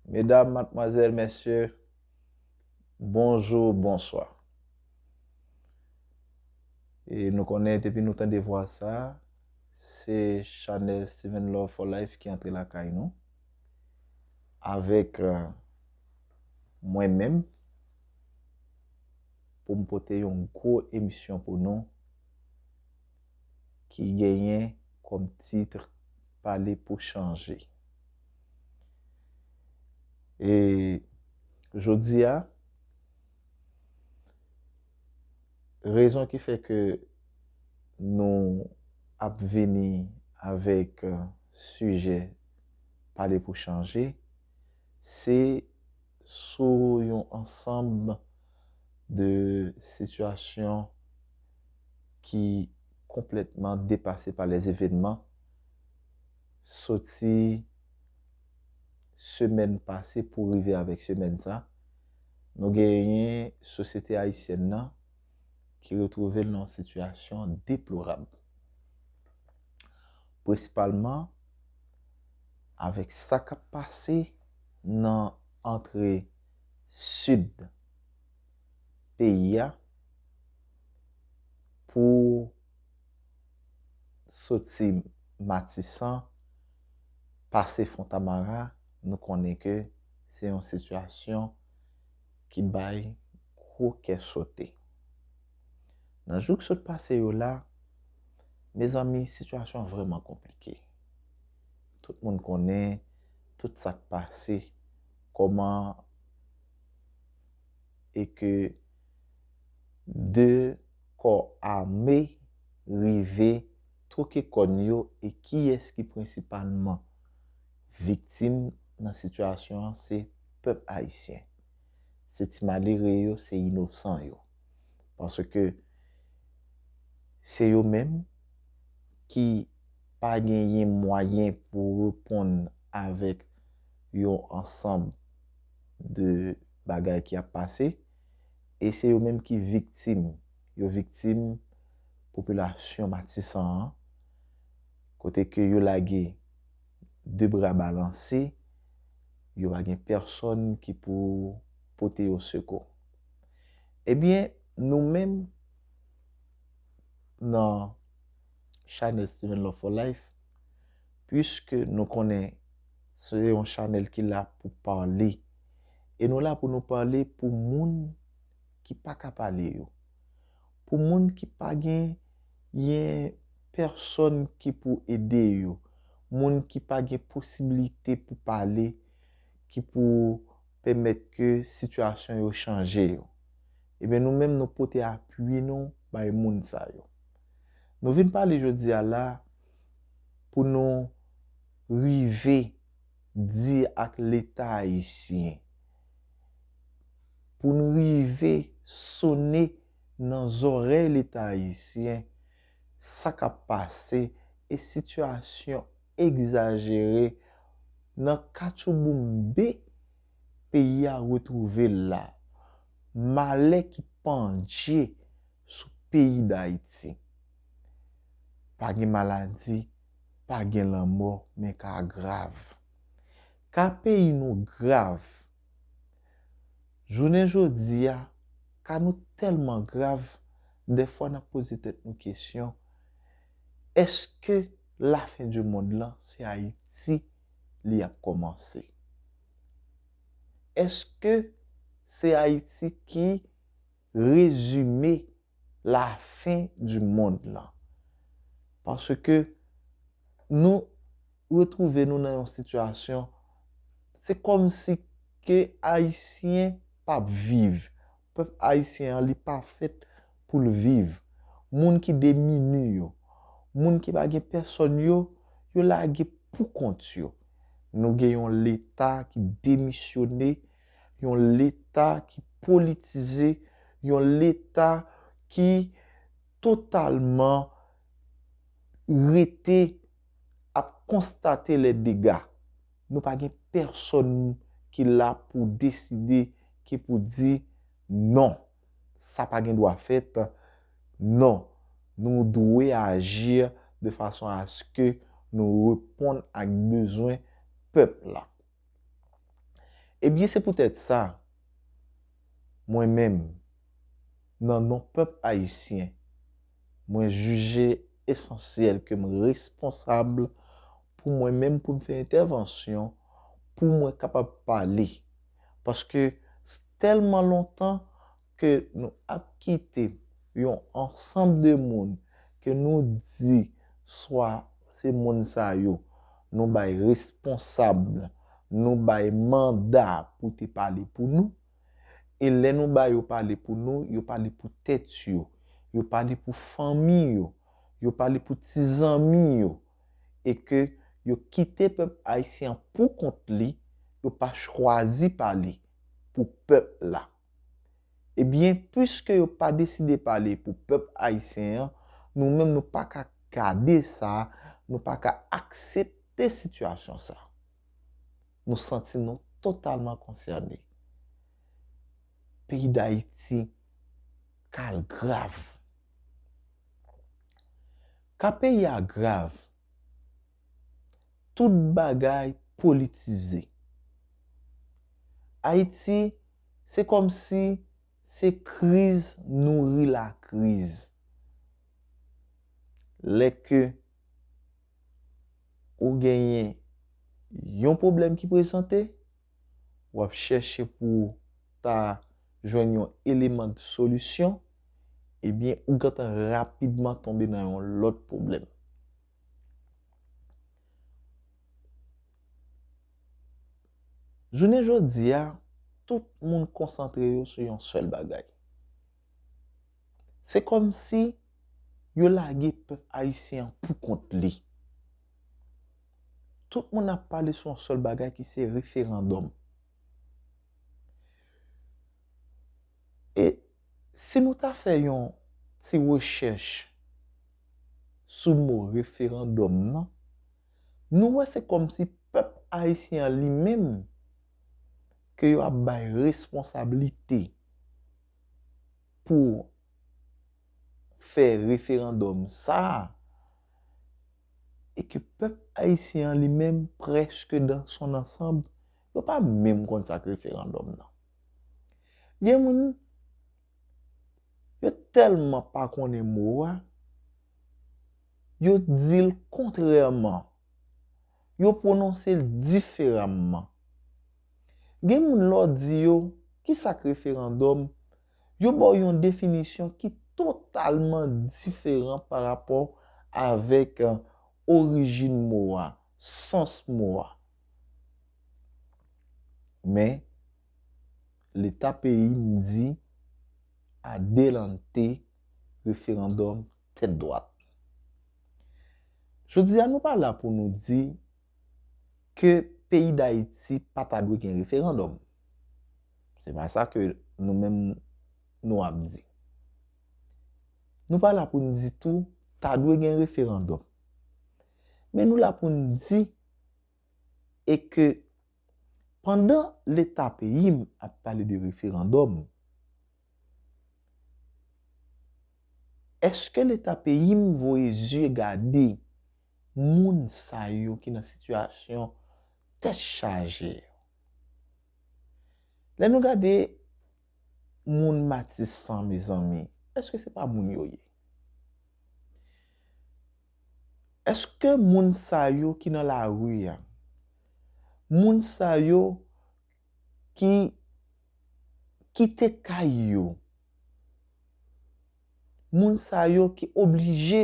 Medam, matmwazèl, mèsyè, bonjou, bonswa. E nou konnen depi nou tande vwa sa, se chanèl Steven Love for Life ki antre lakay nou. Avèk euh, mwen menm, pou m pote yon gwo emisyon pou nou. ki genyen kòm titre pale pou chanje. E jodi a, rezon ki fè ke nou ap vini avèk sijè pale pou chanje, se sou yon ansanb de sitiyasyon ki konplètman depase pa lè evenman, soti semèn pase pou rive avèk semèn sa, nou genyen sosyete ayisyèn nan, ki retwouve l nan yon sitiyasyon deplorab, prensipalman avèk sa k ap pase nan antre sid peyi a pou soti Matisan pase Fontamara, nou konnen ke se yon sitiyasyon ki bay gwo kè sote. Nan jou ki sot pase yo la, mezanmi sitiyasyon an vrèman konplike. Tout moun konnen tout sa k pase, kòman e ke 2 kò ame rive twoke kòn yo e kiyès ki prensipalman. Viktim nan sitiyasyon an se pèp ayisyen. Se ti malere yo, se inosan yo. Paske se yo menm ki pa genyen mwayen pou reponn avèk yon ansanm de bagay ki ap pase e se yo menm ki viktim. Yo viktim popilasyon Matisan an kote ke yo lage. de bra balanse, yo pa gen pèsòn ki pou pote yo sekou. Ebyen, nou menm nan chanèl Steven Love for Life, puiske nou konnen se yon chanèl ki la pou pale, e nou la pou nou pale pou moun ki pa ka pale yo. pou moun ki pa gen yen pèsòn ki pou ede yo, moun ki pa gen posibilite pou pale ki pou pèmèt ke sitiyasyon yo chanje yo. Ebyen nou menm nou pote apui nou bay moun sa yo. Nou vin pale jodi a la pou nou rive. di ak leta ayisyen pou n rive sone nan zòrèy leta ayisyen sa k ap pase e sitiyasyon egzajere nan katchouboumbe peyi a retwouve l la, malè ki pandje sou peyi Dayiti. Pa gen maladi. pa gen lanmò men ka grav. Ka peyi nou grav. Jounen jodi a, ka nou tèlman grav, dèfwa n ap poze tèt nou kesyon, èske lafendimonn lan se Ayiti li ap kòmanse? Èske se Ayiti ki rezime? la fin du monde lan. Paske nou retrouve nou nan yon sitiyasyon se kòm si ke ayisyen pap viv. Pèp ayisyen an li pa fèt pou l viv. Moun ki demini yo, moun ki pa gen pèsòn yo, yo lage pou kont yo. Nou gen yon leta ki demisyone. Yon leta ki politize, yon leta ki totalman rete ap konstate lè dega. Nou pa gen pèsòn ki la pou deside, ki pou di non, sa pa gen dwa fèt, non, nou dwe aji de fason aske nou reponn ak bezwen pèp la. Ebyen se poutèt sa, mwen menm, nan non pèp ayisyen, mwen jije esansyèl ke m responsab pou mwen menm pou m fè entèvansyon pou mwen kapab pale. Paske, s tèlman lontan. ke nou ap kite yon ansanb de moun ke nou di swa se moun sa yo nou bay responsab, nou bay manda pou te pale pou nou, e lè nou ba yo pale pou nou, yo pale pou tèt yo, yo pale pou fanmi yo, yo pale pou ti zanmi yo, e ke yo kite pèp Ayisyen an pou kont li, yo pa chwazi pale pou pèp la. Ebyen pwiske yo pa deside pale pou pèp ayisyen an, nou menm nou pa ka gade sa, nou pa ka aksepte sitiyasyon sa. Nou santi nou totalman konsène. Peyi Dayiti kal grav. Ka peyi a grav. Tout bagay politize. Ayiti, se kòmsi se kriz nouri lakriz. Lè ke ou genyen yon pwoblèm ki prezante, w ap chèche pou ou ta jwenn yon eleman de solisyon, ebyen ou gentan rapidman tonbe nan yon lòt pwoblèm. Jounen jodi a, tout moun konsantre yo sou yon sèl bagay. Se kòm si yo lage pèp ayisyen an pou kont li. Tout moun ap pale sou yon sèl bagay ki se referandòm. E. Si nou ta fè yon ti rechèch sou mo referandòm nan, nou wè se kòmsi pèp ayisyen an li menm ke yo ap bay responsablite pou fè referandòm sa a e ke pèp ayisyen an li menm prèske dan son ansanb yo pa menm konn sa k referandòm nan. Gen moun, yo tèlman pa konnen mo a, yo di l kontrèman, yo pwononse l diferamman. Gen moun lè w di yo, ki sa k referandòm, yo ba w yon definisyon ki totalman diferan pa rapò avèk orijin mo a, sans mo a. Men, leta peyi m di adelante referandòm tèt dwat. Jodi a nou pa la pou nou di ke peyi Dayiti pa ta dwe gen referandòm. Se pa sa ke nou menm nou ap di. Nou pa la pou nou di tou ta dwe gen referandòm. Men nou la pou nou di. e ke pandan leta peyi m ap pale de referandòm, eske leta peyi m voye zye gade moun sa yo ki nan sitiyasyon tèt chaje yo? Lè nou gade moun Matisan mezanmi, eske se pa moun yo ye? Eske moun sa yo ki nan lari a, moun sa yo ki kite kay yo, moun sa yo ki oblije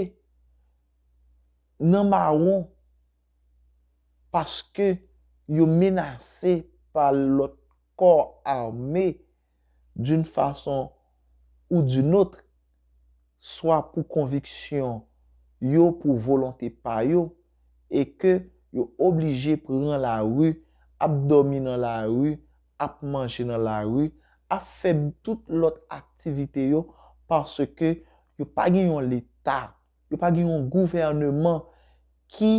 nan mawon paske yo menase pa lòt kò ame d'une façon ou d'une autre, swa pou konviksyon yo, pou volonte pa yo, e ke yo oblije pran lari, ap dòmi nan lari, ap manje nan lari, ap fè tout lòt aktivite yo, paske yo pa gen yon Leta, yo pa gen yon gouvèneman ki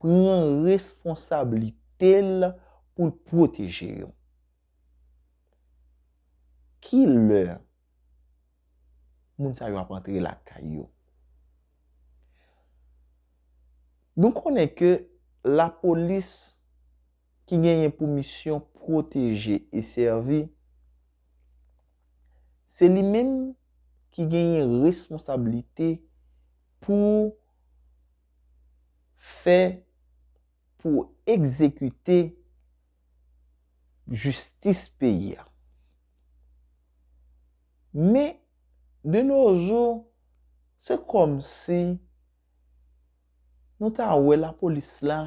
pran responsablite l pou l pwoteje yo. Ki lè moun sa yo ap antre lakay yo? Nou konnen ke lapolis ki genyen pou misyon pwoteje e sèvi, se li menm ki genyen responsabilite pou fè, pou egzekite. jistis peyi a. Men, de no jou, se kòm si nou ta wè lapolis la,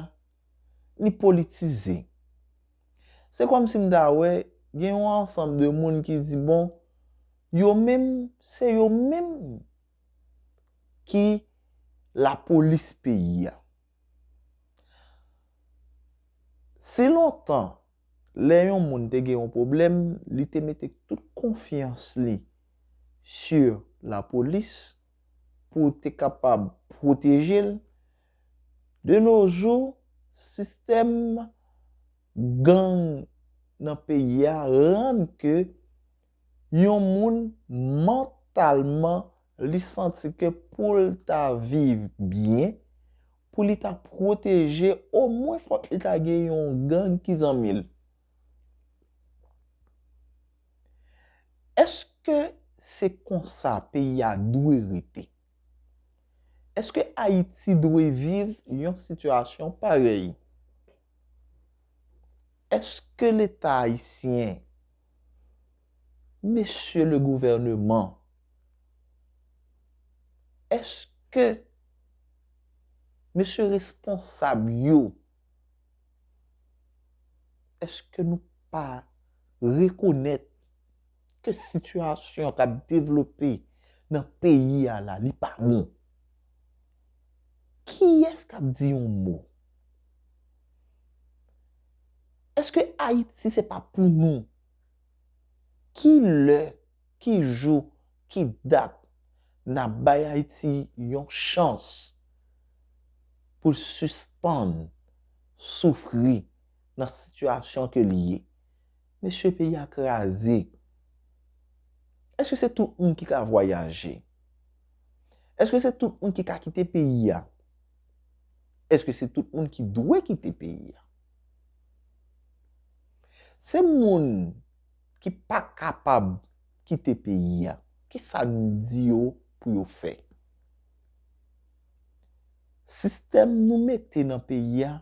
li politize. Se kòm si nou ta wè gen yon ansanm de moun ki di bon, yo menm, se yo menm ki lapolis peyi a. Si lontan, lè yon moun te gen yon pwoblèm, li te mete tout konfyans li si lapolis pou te kapab pwoteje l, de no jou, sistèm gang nan peyi a rann ke Yon moun mantalman li santi ke pou l ta viv byen, pou li ta pwoteje omwen fòk li ta gen yon gang ki zanmi l. Eske se konsa peyi a dwe rete? Eske Ayiti dwe viv yon sitiyasyon parèy? Eske leta ayisyen. Mesye le gouvèneman, èske mesye responsab yo, èske nou pa rekonèt ke sitiyasyon k ap devlope nan peyi a la, li pa bon? Kiyès k ap di yon mo? Eske Ayiti se pa pou nou? Ki lè, ki jou, ki dat nap bay Ayiti yon chans pou l sispann soufri nan sitiyasyon ke li ye? Mesye peyi a kraze. Eske se tout moun ki ka vwayaje? Eske se tout moun ki ka kite peyi a? Eske se tout moun ki dwe kite peyi a? Se moun ki pa kapab kite peyi a, ki sa n di yo pou yo fè? Sistèm nou mete nan peyi a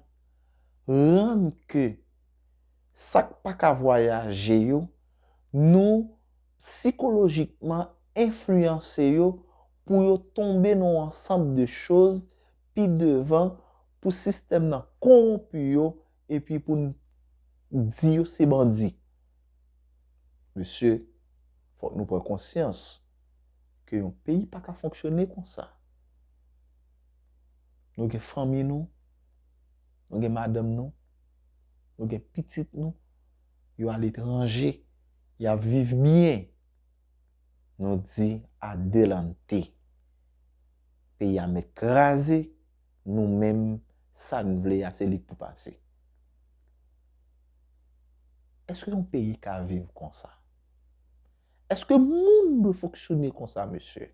rann ke sa k pa ka vwayaje yo, nou sikolojikman enfliyanse yo pou yo tonbe nan yon ansanb de choz, pi devan pou sistèm nan konwonpi yo epi pou n di yo se bandi. Mesye, fòk nou pran konsyans ke yon peyi pa ka fonksyone konsa. Nou gen fanmi nou, nou gen madanm nou, nou gen pitit nou, yo aletranje, y ap viv byen, nou di adelante. peyi a mèt kraze nou menm sa n vle a se li k pou pase èske yon peyi ka viv konsa èske moun dwe fonksyone konsa mesye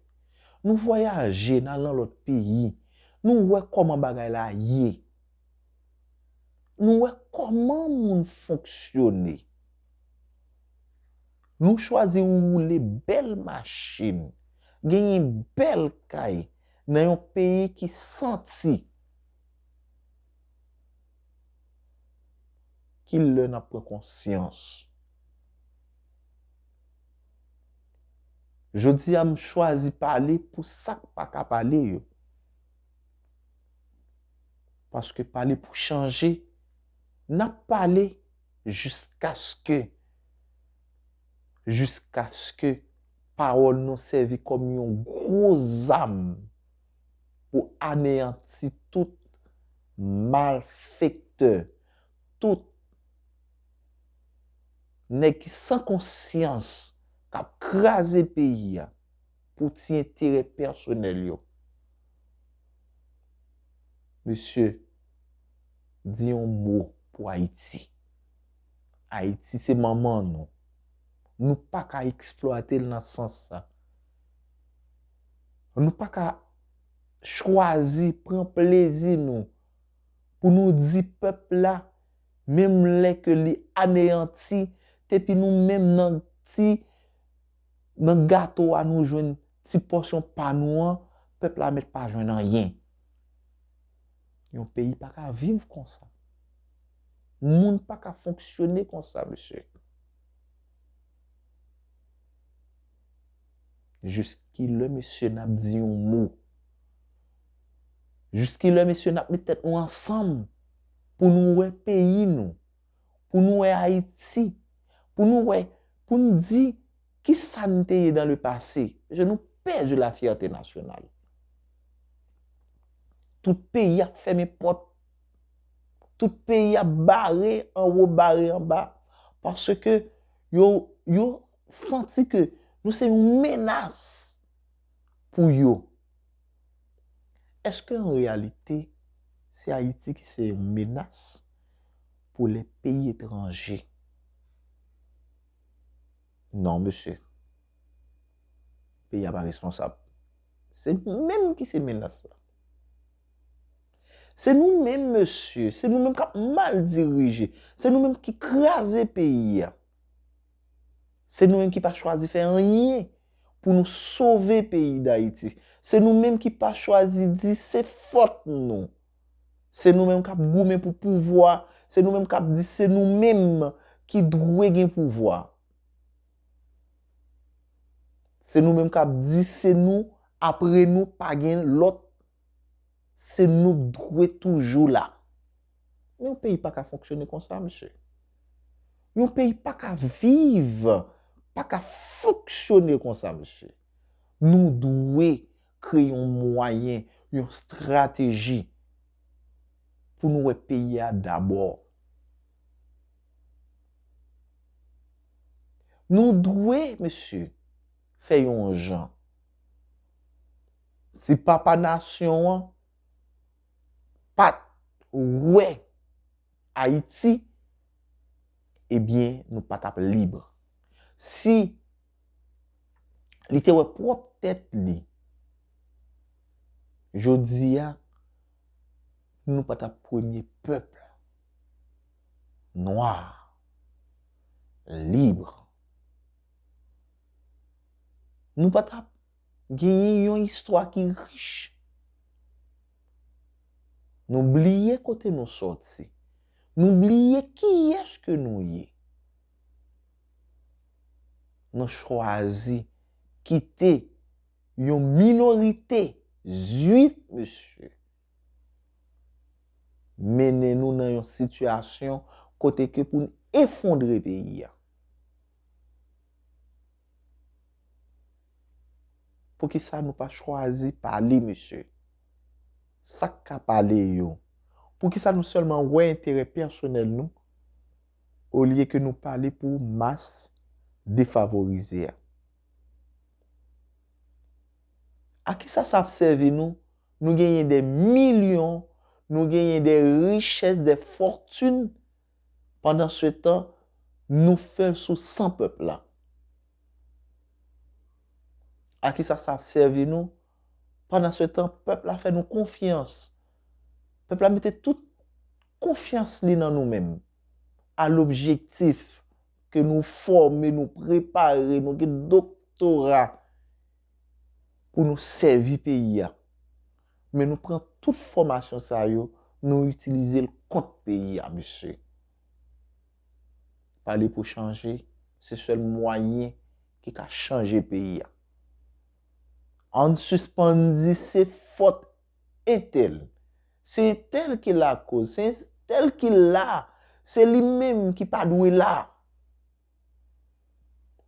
nou vwayaje n al nan lòt peyi nou wè kòman bagay la ye nou wè kòman moun fonksyone. Nou chwazi woule bèl machin, genyen bèl kay nan yon peyi ki santi. Ki lè n ap pran konsyans? Jodi a m chwazi pale pou sa k pa ka pale yo. Paske pale pou chanje, n ap pale. Jiskaske, jiskaske pawòl nou sèvi kòm yon gwo zam pou aneyanti tout malfektè, tout nèg ki san konsyans k ap kraze peyi a pou ti enterè pèsonèl yo. Mesye! Di yon mo pou Ayiti. Ayiti se manman nou. Nou pa ka eksplwate l nan sans sa. Nou pa ka chwazi, pran plezi nou pou nou di pèp la menm lè ke li aneyanti depi nou menm nan ti nan gato a nou jwenn ti pòsyon pa nou an, pèp la mèt pa jwenn anyen. Yon peyi pa ka viv konsa. Moun pa ka fonksyone konsa, mesye. Jis ki lè, mesye, n ap di yon mo? Jis ki lè, mesye, n ap met tèt nou ansanm pou nou wè peyi nou? pou nou wè Ayiti, pou nou wè, pou n di ki sa n te ye dan le pase, paske nou pèdi la fyète nasyonal. Tout peyi ap fèmen pòt, tout peyi ap bare an wo, bare an ba, paske yo, yo santi ke nou se yon menas pou yo. Eske an reyalite se Ayiti ki se yon menas? pou lè peyi etranje. Non mesye. Peyi a pa responsab. Se nou menm ki se menas la. Se nou menm mesye. Se nou menm kap mal dirije. Se nou menm ki kraze peyi a. Se nou menm ki pa chwazi fè anyen pou nou sove peyi dayiti. Se nou menm ki pa chwazi di se fòt nou. Se nou menm kap goumen pou pouvwa, se nou menm kap di se nou menm ki dwe gen pouvwa. Se nou menm kap di se nou apre nou pa gen lòt, se nou k dwe toujou la. Men yon peyi pa ka fonksyone konsa mesye. Yon peyi pa ka viv, pa ka fonksyone konsa mesye. Nou dwe Kreye yon mwayen, yon strateji pou nou wè peyi a dabò. Nou dwe, mesye, fè yon jan. Si papa nasyon an pa t wè Ayiti, ebyen nou pa t ap lib. Si. Li te wè pwòp tèt li. Jodi a, nou pa t ap premye pèp nwa, libre. Nou pa t ap genyen yon istwa ki rich. Nou bliye kote nou soti. Nou bliye kiyès ke nou ye. Nou chwazi kite yon minorite zuit mesye mennen nou nan yon sitiyasyon kote ke pou n efondre peyi a. Poukisa nou pa chwazi pale mesye? Sak ka pale yo? Poukisa nou sèlman wè enterè pèsonèl nou? olye ke nou pale pou mas defavorize a. A kisa sa ap sèvi nou, nou genyen de milyon, nou genyen de richès, de fòtin, pandan se tan, nou fè l sou san pèp la? A kisa sa ap sèvi nou, Pandan se tan, pèp la fè nou konfyans. Pèp la mete tout konfyans li nan nou menm. A lobjektif ke nou fòme, nou prepare, nou gen doktora pou nou sèvi peyi a. Men nou pran tout fòmasyon sa yo, nou itilize l kont peyi a mesye. Pale pou chanje, se sèl mwayen ki ka chanje peyi a. Ann sispann di se fòt entèl. Se entèl ki lakoz. Se entèl ki la. Se li menm ki pa dwe la.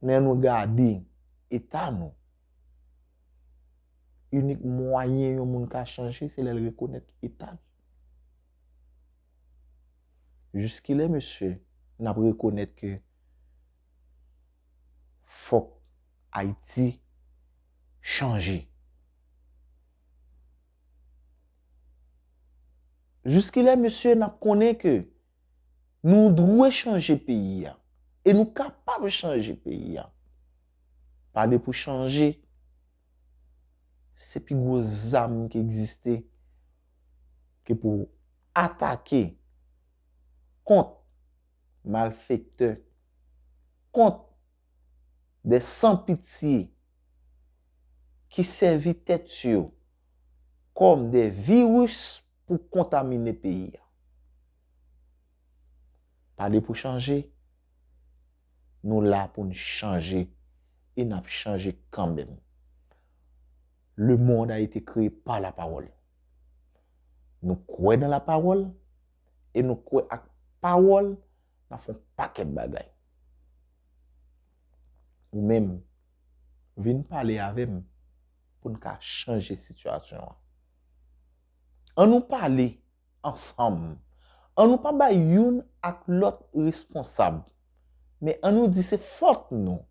Men annou gade eta nou. Inik mwayen yon moun ka chanje se lè l rekonèt eta l. Jiskilè mesye n ap rekonèt ke. fok Haiti chanje. Jiskilè mesye nap konnen ke nou dwe chanje peyi a e nou kapab chanje peyi a. Pale pou chanje se pi gwo zam ki egziste ke pou atake kont malfektè, kont, dè san pitye, ki sèvi tèt yo kòm dè viris pou kontamine peyi. Pale pou chanje, nou la pou n chanje e n ap chanje kanmenm. Le mond a ete kreye pa la pawòl. Nou kwè nan la pawòl. e nou kwè ak pawòl nan fè yon pakèt bagay. Ou menm, vin pale avè m pou n ka chanje sitiyasyon an. An nou pale ansanm, an nou pa bay youn ak lòt responsab, men an nou di se fòt nou.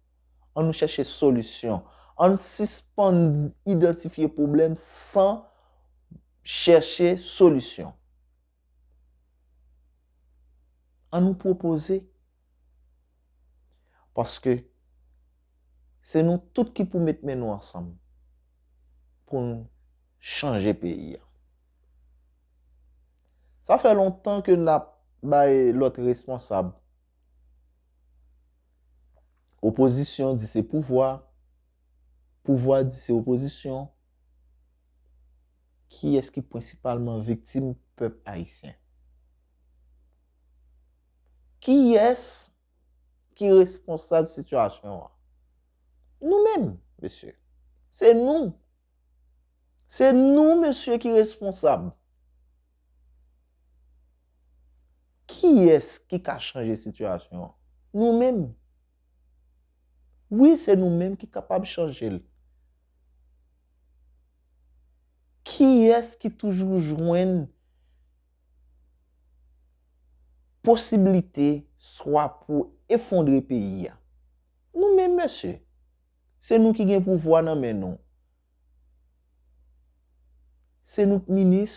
An nou chèche solisyon. An n sispann idantifye pwoblèm san chèche solisyon. An nou pwopoze. Paske se nou tout ki pou met men nou ansanm pou n chanje peyi a. Sa fè lontan ke n ap bay lòt responsab. Opozisyon di se pouvwa, pouvwa di se opozisyon. Kiyès ki prensipalman viktim pèp ayisyen? Kiyès ki responsab sitiyasyon an? Nou menm, mesye. Se nou. Se nou, mesye, ki responsab. Kiyès ki ka chanje sitiyasyon an? Nou menm! Wi, se nou menm ki kapab chanje l. Kiyès ki toujou jwenn posiblite swa pou efondre peyi a? Nou menm mesye! Se nou ki gen pouvwa nan men nou. Se nou k minis,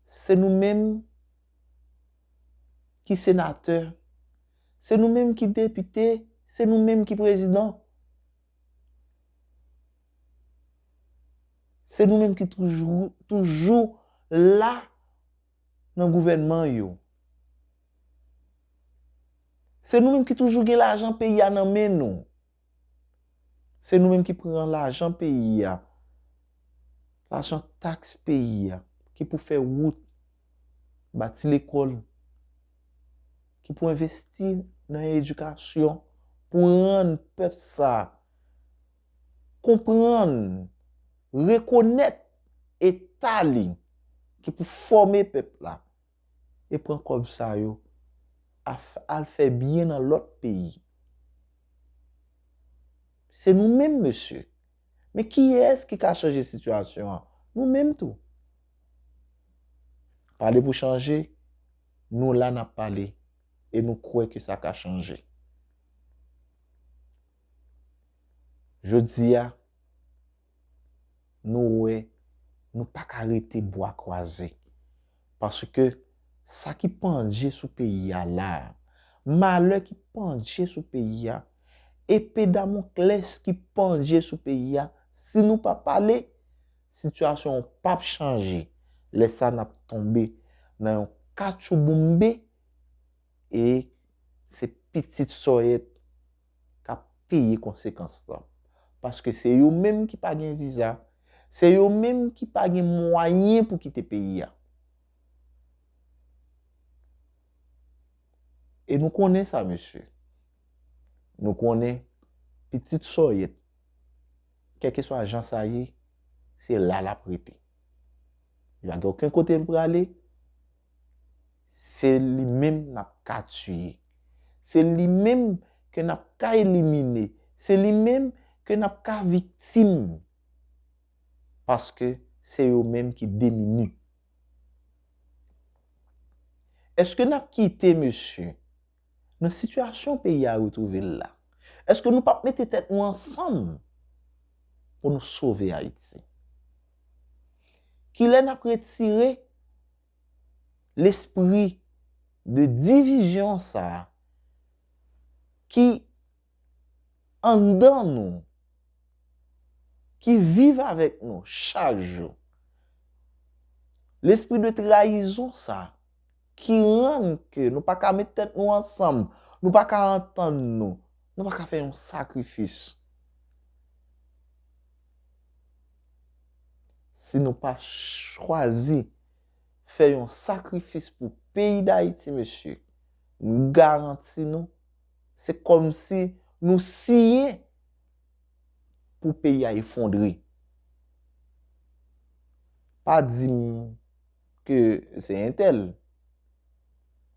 se nou menm ki senatè, se nou menm ki depite, se nou menm ki prezidan. Se nou menm ki toujou la nan gouvènman yo. Se nou menm ki toujou gen lajan peyi a nan men nou. Se nou menm ki pran lajan peyi a, lajan taks peyi a, ki pou fè wout, bati lekòl, ki pou envesti nan edikasyon, pou rann pèp sa a konprann, rekonèt eta li, ki pou fòme pèp la, e pran kòb sa yo al fè byen nan lòt peyi. Se nou menm mesye. Men kiyès ki ka chanje sitiyasyon an? Nou menm tou. Pale pou chanje, nou la nap pale e nou kwè ke sa ka chanje. Jodi a. nou wè nou pa ka rete bwa kwaze. Paske sa ki pandje sou peyi a la, malè ki pandje sou peyi a, epe damoklès ki pandje sou peyi a, si nou pa pale, sitiyasyon an p ap chanje. Lè sa n ap tonbe nan yon katchouboumbe e se pitit sòyèt k ap peye konsekans lan. Paske se yo menm ki pa gen viza, se yo menm ki pa gen mwayen pou kite peyi a. E nou konnen sa mesye. Nou konnen pitit sòyèt, kèlkeswa jan sa ye, se la l ap rete. Li pa gen oken kote l prale. Se li menm n ap ka tiye. Se li menm ke n ap ka elimine. Se li menm ke n ap ka viktim. Paske se yo menm ki demini. Eske n ap kite mesye. Nan sitiyasyon peyi a retwouve l la, èske nou pap mete tèt nou ansanm pou nou sove Ayiti? Kilè n ap retire lespri de divizyon sa a ki anndan nou, ki viv avèk nou chak jou. Lespri de trayizon sa, ki rann ke nou pa ka met tèt nou ansanm, nou pa ka antann nou, nou pa ka fè yon sakrifis. Si nou pa chwazi fè yon sakrifis pou peyi Dayiti mesye, m garanti nou, Se kòmsi nou siyen pou peyi a efondre. Pa di m ke se entèl.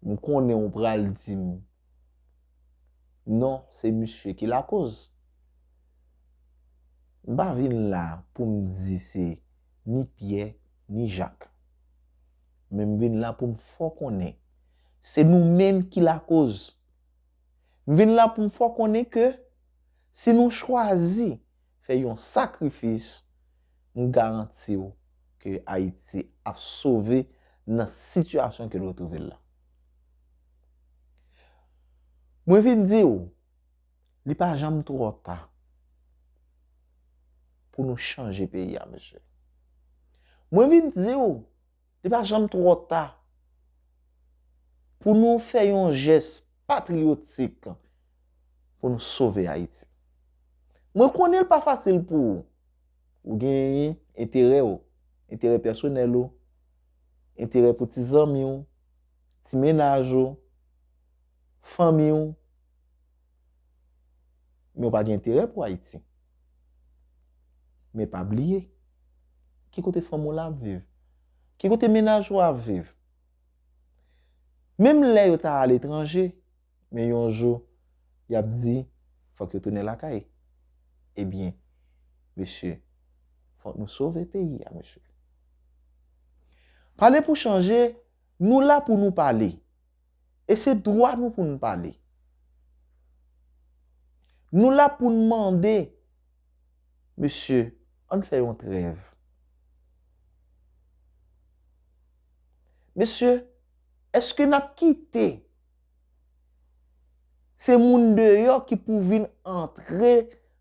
M konnen ou pral di m non se misye ki lakoz. M pa vin la pou m di se ni Pyè ni Jak. Men m vin la pou m fè w konnen se nou menm ki lakoz. M vin la pou m fè w konnen ke si nou chwazi fè yon sakrifis, m garanti w ke Ayiti ap sove nan sitiyasyon ke l retwouve l la. Mwen vin di w. Li pa janm twò ta pou nou chanje peyi a mesye. Mwen vin di ou, li pa janm twò ta pou nou fè yon jès patriyotik pou nou sove Ayiti. Mwen konnen li pa fasil pou ou. Ou gen enterè ou, enterè pèsonèl ou, enterè pou ti zanmi ou, ti menaj ou, fanmi ou. Men w pa gen enterè pou Ayiti. Men pa bliye, ki kote fanm ou la ap viv? Ki kote mennaj ou ap viv? Menm lè yo ta aletranje, men yon jou, y ap di, fòk yo tounen lakay. Ebyen, mesye, fòk nou sove peyi a, mesye. Pale pou chanje, nou la pou nou pale. E se dwa nou pou n pale. Nou la pou n mande, mesye, ann fè yon trèv. Mesye, èske n ap kite se moun deyò ki pou vin antre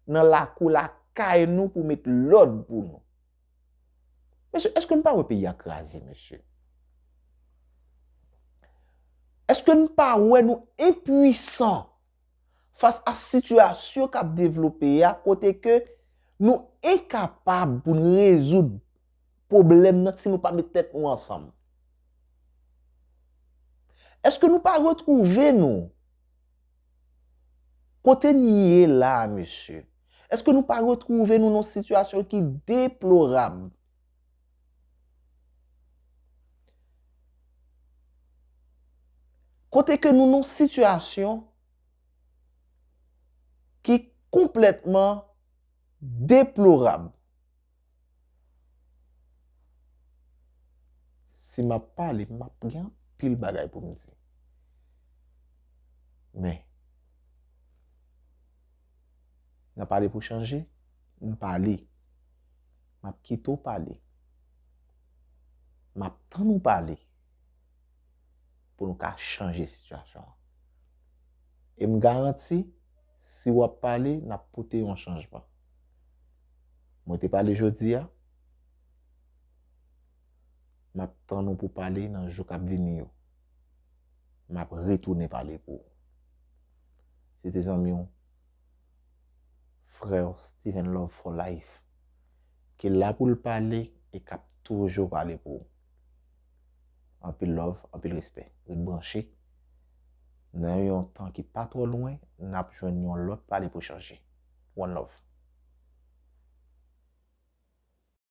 nan lakou lakay nou pou met lòd pou nou? Mesye eske nou pa wè peyi a kraze mesye? Eske nou pa wè nou enpuisan fas a sitiyasyon kap devlope a kote ke nou enkapab pou nou rezoud pwoblèm nan si nou pa met tèt nou ansanm? Eske nou pa retwouve nou? Kote n ye la a mesye? Eske nou pa retwouve nou nan yon sitiyasyon ki deplorab? Kote ke nou nan yon sitiyasyon ki konplètman deplorab? Si m ap pale, m ap gen anpil bagay pou m di. Men, nan pale pou chanje, m pale. M ap kite w pale. M ap tann ou pale pou nou ka chanje sitiyasyon an. E m garanti, si w ap pale, n ap pote yon chanjman. Mwen te pale jodi a, m ap tann ou pou pale nan jou k ap vini yo. M ap retounen pale pou ou. Se te zanmi w, frè w Steven Love for life, ki la pou l pale e k ap toujou pale pou ou. Anpil love, anpil respè. Ret branche. Nan yon tan ki pa twò lwen, n ap jwenn yon lòt pale pou chanje. one love.